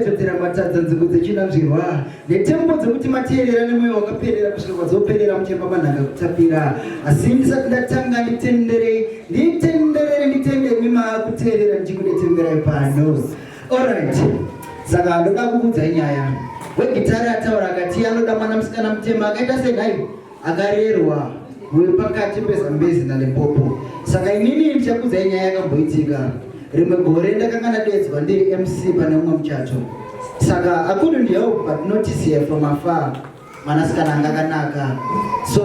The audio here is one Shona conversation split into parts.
dzedzera matadza nzvimbo dzechinanzvirwa netembo dzekuti mateerera nemweya wakaperera kusvika kwadzoperera muchemba manhanga kutapira asi ndisati ndatanga nditenderei nditenderere nditende mimaa kuteerera ndichikudetemberai pano orit saka ndoda kukudzai nyaya wegitari ataura akati anoda mwana musikana mutema akaita senhai akarerwa muri pakati pezambezi nalimpopo saka inini ndichakudzai nyaya yakamboitika rimwe gore ndakanga ndadedzwa ndiri mc pane umwe muchato saka akudu ndihelp but notice here from afar mwanasikana anga akanaka so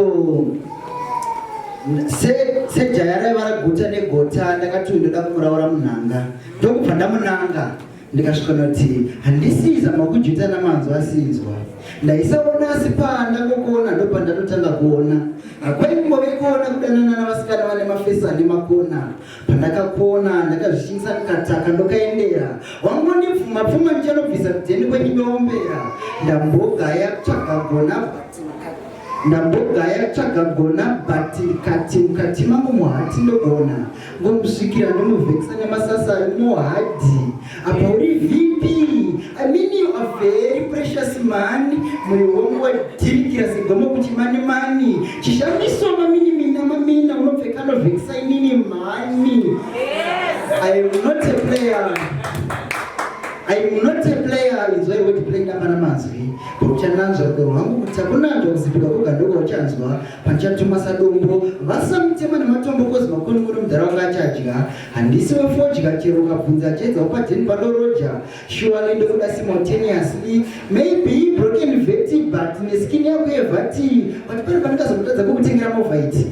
sejaya raiva raguta negota ndakati uyu ndoda kumuraura munhanga ndokubva ndamunanga ndikasvika ndati handisiza makujuta namanzwa asinzwa ndaisaona asi panda kokuona ndopandatotanga kuona hakwaimbove kuona kudanana navasikana vane mafesi ane makona pandakakuona ndakazvishinisa kukataka ndokaendera wangondipfuma pfuma ndichanobvisa kudheni kwenyimeombera ndambogaya kutsvaga gona ndambogaya kutsvaga gona but kati mukati mangu muhati ndogona Ngomusvikira ndonovhekisa nemasasa ari muhadhi apa uri vp i mean you are very precious man moyo wangu wadhirikira segomo kuti mani mani chishamiso mamini mina mamina unopfeka anovhekisa inini mhani i am not a player i am not a player inzwai woti play ndapana mazwi pakuchananzva rudo rwangu kuti akunanzva kuzipika kogandoko uchanzwa Pachatuma sadombo vasamutema nematombo kozi makoni kuri mudhara wanga achadya handisi wefodya chero ukabvunza achaedza upadheni padoroja shuwali ndokuda simultaneously maybe broken veti but neskin yako yevati but pari pandikazomutadza kokutengera movaiti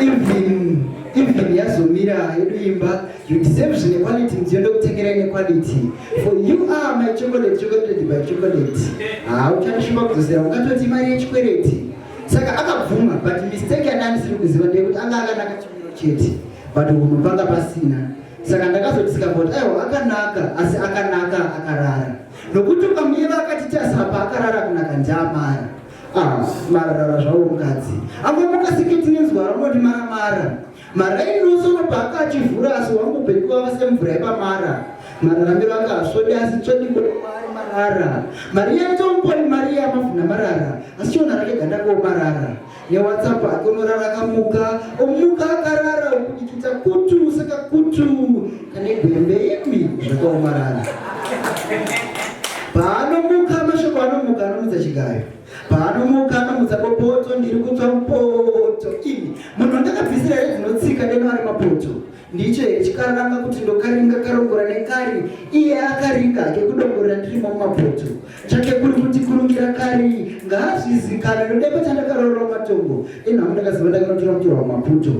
even even yazomira yedu imba you deserve zvinequality mudziyo ndokutengera inequality for you are my chocolate chocolate by chocolate hauchandishuva kudzosera ungatoti mari yechikwereti saka akabvuma but mistake yandandisiri kuziva ndeyekuti anga akanaka chimiro chete but hunhu panga pasina saka ndakazodisika kuti aiwa akanaka asi akanaka akarara nokuti ukamuyeva akati tasapa akarara kunaka ndiamara ah, mararara zvawo mukadzi angomuka seketi nenzwara unoti maramara Maraini nosono paaka achivhura asi wangu bheki wava semvura yepamara. Mararamiro aka hasvodi asi tsvodi kuari marara. Mariya ntomuponi Mariya mavhuna marara asi chiona rake ganda ko marara. Newatsapu ake unorara akamuka omuka akarara okudikita kutu saka kutu kane gwembe imi zvakaomarara. Paanomuka mashoko anomuka anomuka chigayo. Paanomuka anomutsa bopoto ndiri kutsva mupoto. Imi munhu ndakabvisira here dzinotsika deno ari mapoto. Ndicho here chikaranga kuti ndokaringa karongora nekari iye akaringa hake kudongorera ndirimo mumapoto. Chake kuri kuti kurungira kari ngaazvizikana nodepo chandakaroora matongo. Inhamu ndakaziva ndakanotora mutora wamaputo.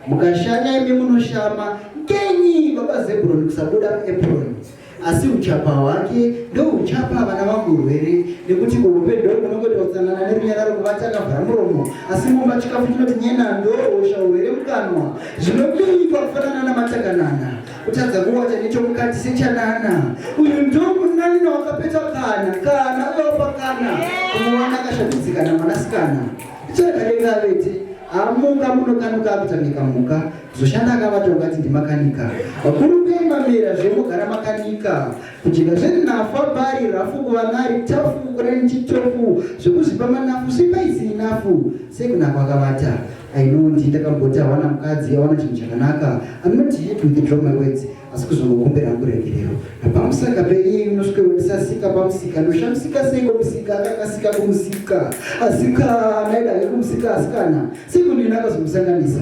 Mukashanya imi munoshama ngenyi baba Zebron kusabuda muepron. asi uchapa hwake ndouchapa vana vangu urwere nekuti kuhupedho kunongoita kutsanana nerunyararo kuvati akavhara muromo asi mumba chikafu chinoti nyena ndohosha urwere mukanwa zvinobinyikwa kufanana namatakanana kutadza kuwata nechomukati sechanana uyu ndomunanina wakapeta kana kana uyopa kana kumuwana akashabidzikana mwanasikana ichakadenga vete amuka munokanuka akutamika muka Zoshanda akavata ungati ndimakanika. Vakuru kuimba mera zvemogara makanika. Kujika zviri nafa bari rafu kuva nari tafu kurani chitofu zvekuzipa manafu sipa isiri nafu sekunako akavata. I know ndi ndakamboti awana mukadzi awana chinhu chakanaka. I'm not here to withdraw my words asi kuzongokumbira kuregerero. Napamusaka peiye inosvike wendisasika pamusika ndoshamisika sei kumusika akakasika kumusika asikana ida yekumusika asikana sekundinakazomusanganisa